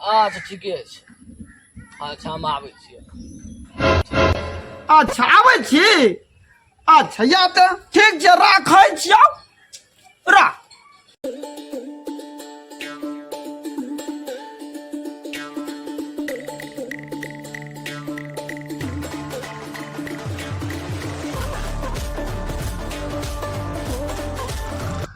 अच्छा ठीके छै अच्छा हम आबै छियै अच्छा आबै छी अच्छा या तऽ ठीक छै राखै छियौ राख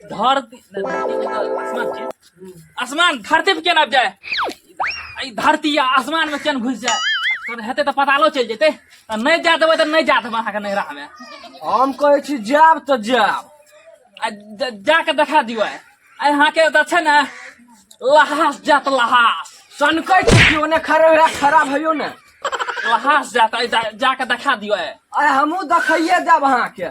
धर आसमान धरती पे केना आबि जाय ई धरती आ आसमान में केना घुसि जाय तहन हेतै तऽ पतालो चलि जेतै तऽ नहि जाय देबै तऽ नहि जाय देबै अहाँके नैहरामे हम कहै छी जायब तऽ जायब आ ज- जाके देखा दियो आइ आइ अहाँके तऽ छै ने लहास जात लहास सनकै छी कि ओने खड़े हुए खड़ा भइयो ने लहास जात आइ जा- जाके देखा दियो आइ आइ हमहूँ देखैये जायब अहाँके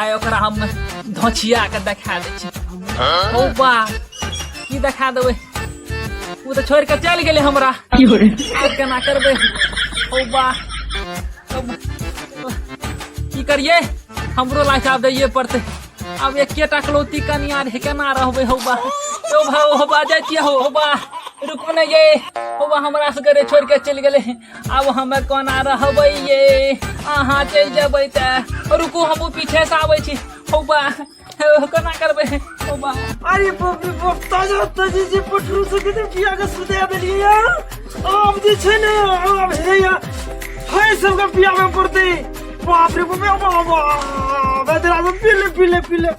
आइ ओकरा हम धोछिया के देखा दै छी ओ बा की देखा देबै ओ तऽ छोड़ि कऽ चलि गेलै हमरा आब केना करबै ओ बा अब की करियै हमरो लाइफ आब दैये पड़तै आब एकेटा कलौती कनिया रे केना रहबै हौ बा यौ भाउ हौ बा जाइ छियै हौ हौ बा रुकू ने ये हौ बा हमरा सबके रे छोड़ि कऽ चलि गेलै अब हम कोना रहबै ये अहाँ चलि जेबै तऽ रुकू हमहूँ पीछेसँ आबै छी हौ बा कोना करबै हौ बा अरे बाप रे बाप ताजा ताजी जे पटरू से कते किया के सुते देलिए यार आब जे छै ने आब हे या हे सब के पिया में पड़ते बाप रे बाप बाप बाप बेदरा में पीले पीले पीले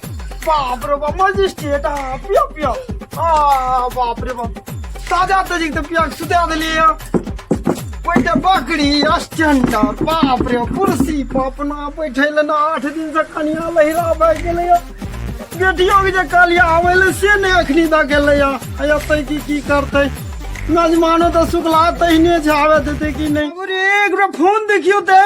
बाप रे बाप मजिस्ट्रेट आ पिया पिया आ बाप रे बाप ताजा ताजी के पिया के सुते देलिए यार बैठे बकरी स्टैंडर बाप रे कुर्सी पर अपना बैठे ले ना आठ दिन से कनिया लहिरा भए गेलै या। बेटियो के जे कालिया आबै ले से नहि अखनी दऽ गेलै या आइ एतै कि की करतै मेजमानो तऽ सुखला तहिने छै आबे देतै कि नहि अरे एक बेर फोन देखियौ तऽ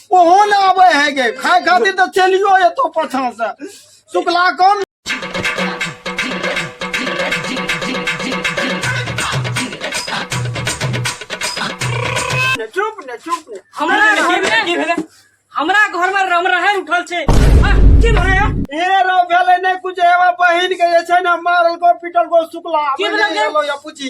ओहो ना आवे है के खाए खातिर तो चलियो एतो पछा से शुक्ला कौन चुप ने चुप ने हमरा घर में हमरा घर में रम रहे उठल छे आ, की भरे हो? ए रो भेले ने कुछ एवा बहिन के जे छै ना मारल को पीटल को शुक्ला की भेलै जे? या पूछी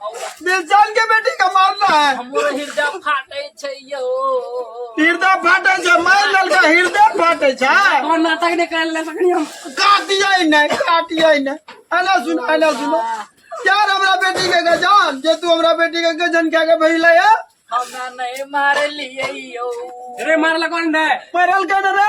दिलजान के बेटी का मारना है हमरो हृदय फाटे छै यो हृदय फाटे छै मार ललका हृदय फाटे छै कौन नाटक ने कर ले सकनी हम काटिए ने काटिए ने आना सुन आना सुन यार हमरा बेटी के गजान जे तू हमरा बेटी के गजन क्या के भइले है हमरा नहीं मार लिए यो रे मार लगन दे परल के रे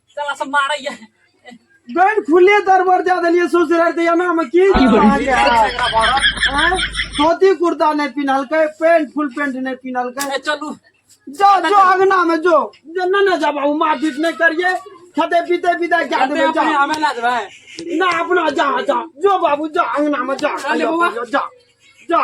साला सब मारै ये गैर खुले दरबर जा देलिए ससुराल ते एना में की की बोल धोती कुर्ता नहीं पिनलके पेंट फुल पेंट नहीं पिनलके चलू जो जो अंगना में जो जो न न जाबा उ मार पीट नहीं करिए खते पीते पीते क्या दे जा हमें ला देबे ना अपना जा जा जो बाबू जा अंगना में जा जा जा